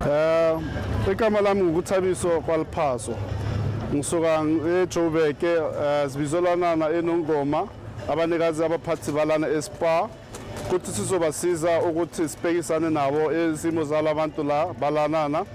Eh, igama lami ngukuthabiso kwaliphaso ngisuka ejoburg eh, sibizolanana enongoma abanikazi abaphathi balana espa kuthi sizobasiza ukuthi sibhekisane nabo izimo zalabantu la balanana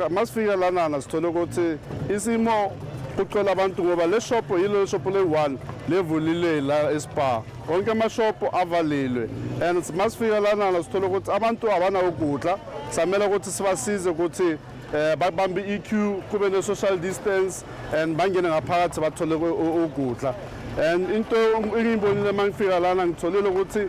masifika lanana sithole ukuthi isimo kucela abantu ngoba le shophu yilo shophu leyi-one levulile la espa wonke amashophu avalilwe and masifika lanana sithole ukuthi abantu abanawukudla samele ukuthi sibasize ukuthi eh babambe iQ kube ne social distance and bangene ngaphakathi bathole ukudla and into engiyibonile mangifika lana ngitholile ukuthi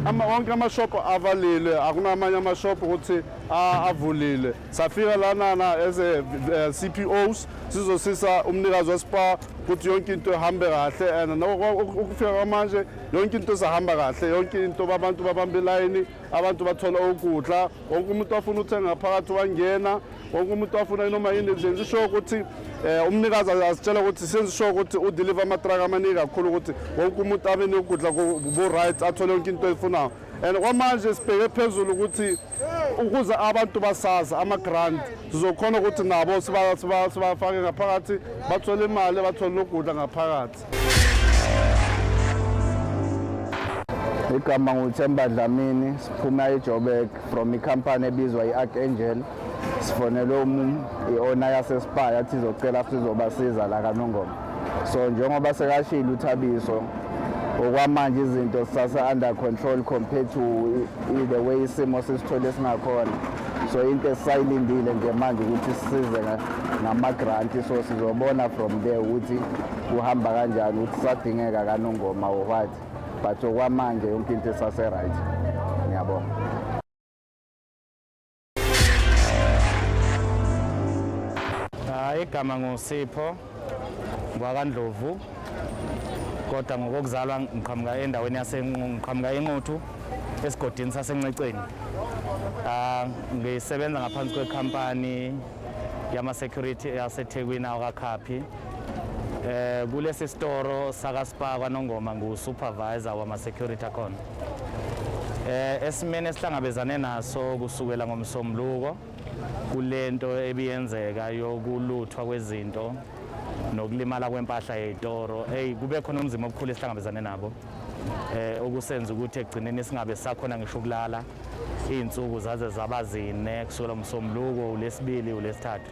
ama wonke ama shop avalile akunamanye ama shop ukuthi avulile safika lanana as a eh, CPOs sizosisa umnikazi wespa ukuthi yonke into ihambe kahle and ukufika kwamanje yonke into isahamba kahle yonke into abantu babamba ilayini abantu bathola ukudla wonke umuntu afuna uthenga phakathi wangena wonke umuntu afuna noma yini nje ngisho ukuthi eh, umnikazi asitshela ukuthi senzisho ukuthi udeliver amatraka amaningi kakhulu ukuthi wonke umuntu abe nokudla ku-right athole yonke into eyifunayo and kwamanje sibheke phezulu ukuthi ukuze abantu basazi ama-grant sizokhona ukuthi nabo sibafake ngaphakathi bathole imali bathole nokudla ngaphakathi igama nguthemba dlamini siphuma ejobek from ikhampani ebizwa i-ark angel sifonele um i-ona yasespaya athi izocela sizobasiza la kanongoma so njengoba sekashilo uthabiso okwamanje izinto sisase-under control compared to the way isimo sisithole esingakhona so into esisayilindile nje manje ukuthi sisize ngamagranti so sizobona from there ukuthi kuhamba kanjani ukuthi sadingeka kanongoma or what but okwamanje yonke into esase-right ngiyabonga Hayi igama nguSipho ngwakandlovu kodwa ngokokuzalwa ngiqhamuka endaweni yasenqhamuka enquthu esigodini sasenceceni ah, ngisebenza ngaphansi kwekhampani yama-security yasethekwini awakakhaphi eh kulesi storo sakaSpa kwaNongoma ngu-supervisor wama-security akhona Eh esimene esihlangabezane naso kusukela ngomsombuluko kulento ebiyenzeka yokuluthwa kwezinto nokulimala kwempahla yezitoro hey kube khona umzima obukhulu esihlangabezane nabo eh okusenza ukuthi ekugcineni singabe sakhona ngisho ukulala izinsuku zaze zaba zine kusukela umsombuluko ulesibili ulesithathu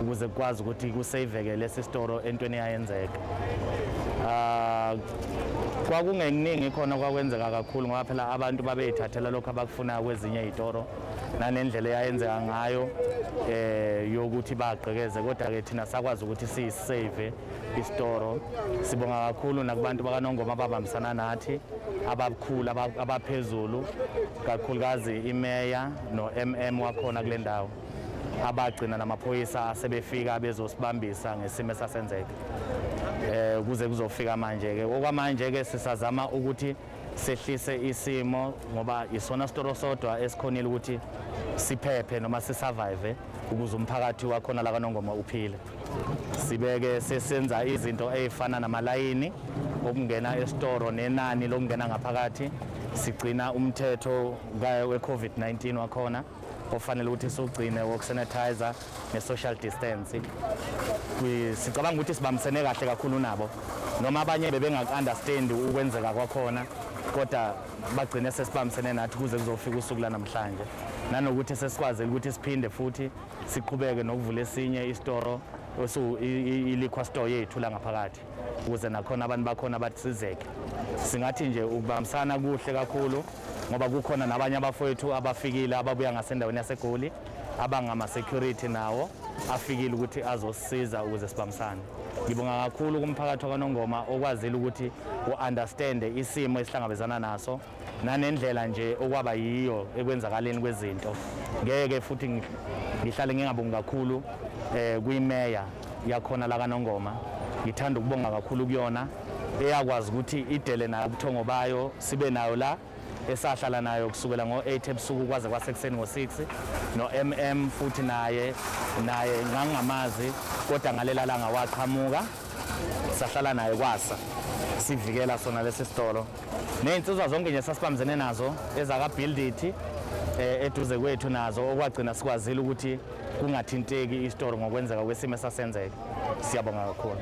ukuze kukwazi ukuthi kuseyiveke lesi sitoro entweni eyayenzeka ah, kwakungeningi khona kwakwenzeka kakhulu ngoba phela abantu babeyithathela lokho abakufunayo kwezinye iy'toro nanendlela eyayenzeka ngayo eh yokuthi bagqekeze kodwa ke thina sakwazi ukuthi siyisave isitoro sibonga kakhulu nakubantu bakanongoma ababambisana nathi ababukhulu abaphezulu kakhulukazi imeya no-mm wakhona kule ndawo abagcina namaphoyisa asebefika bezosibambisa ngesimo esasenzeka eh kuze kuzofika manje ke okwamanje ke sisazama ukuthi sehlise isimo ngoba isona sitoro sodwa esikhonile ukuthi siphephe noma sisurvive ukuze umphakathi wakhona la kanongoma uphile sibeke sesenza izinto ezifana namalayini okungena esitoro nenani lokungena ngaphakathi sigcina umthetho weCovid-19 wakhona ofanele ukuthi siwugcine wokusanitizer ne-social distance sicabanga ukuthi sibambisene kahle kakhulu nabo noma abanye bebengaku-understand ukwenzeka kwakhona kodwa bagcine sesibambisene nathi kuze kuzofika usuku lanamhlanje nanokuthi sesikwazile ukuthi siphinde futhi siqhubeke nokuvula esinye isitoro i-liquor store yethu la ngaphakathi ukuze nakhona abantu bakhona basizeke singathi nje ukubambisana kuhle kakhulu ngoba kukhona nabanye abafowethu abafikile ababuya ngasendaweni yasegoli abangama-security nawo afikile ukuthi azosiza ukuze sibambisane ngibonga kakhulu kumphakathi wakanongoma okwazile ukuthi u-understande isimo esihlangabezana naso nanendlela nje okwaba yiyo ekwenzakaleni kwezinto ngeke futhi ngihlale ngingabongi kakhulu um eh, kwimeya yakhona lakanongoma ngithanda ukubonga kakhulu kuyona eyakwazi ukuthi idele nayo ubuthongo bayo sibe nayo la esahlala nayo kusukela ngo-8 ebusuku kwaze kwasekuseni ngo-6 no-mm futhi naye naye ngangingamazi kodwa ngalela langa waqhamuka sahlala naye kwasa sivikela sona lesi sitolo Ney'nsizwa zonke nje sasibambisene nazo ezakaBuildithi eh, eduze kwethu nazo okwagcina sikwazile ukuthi kungathinteki isitori ngokwenzeka kwesimo esasenzeka. Siyabonga kakhulu.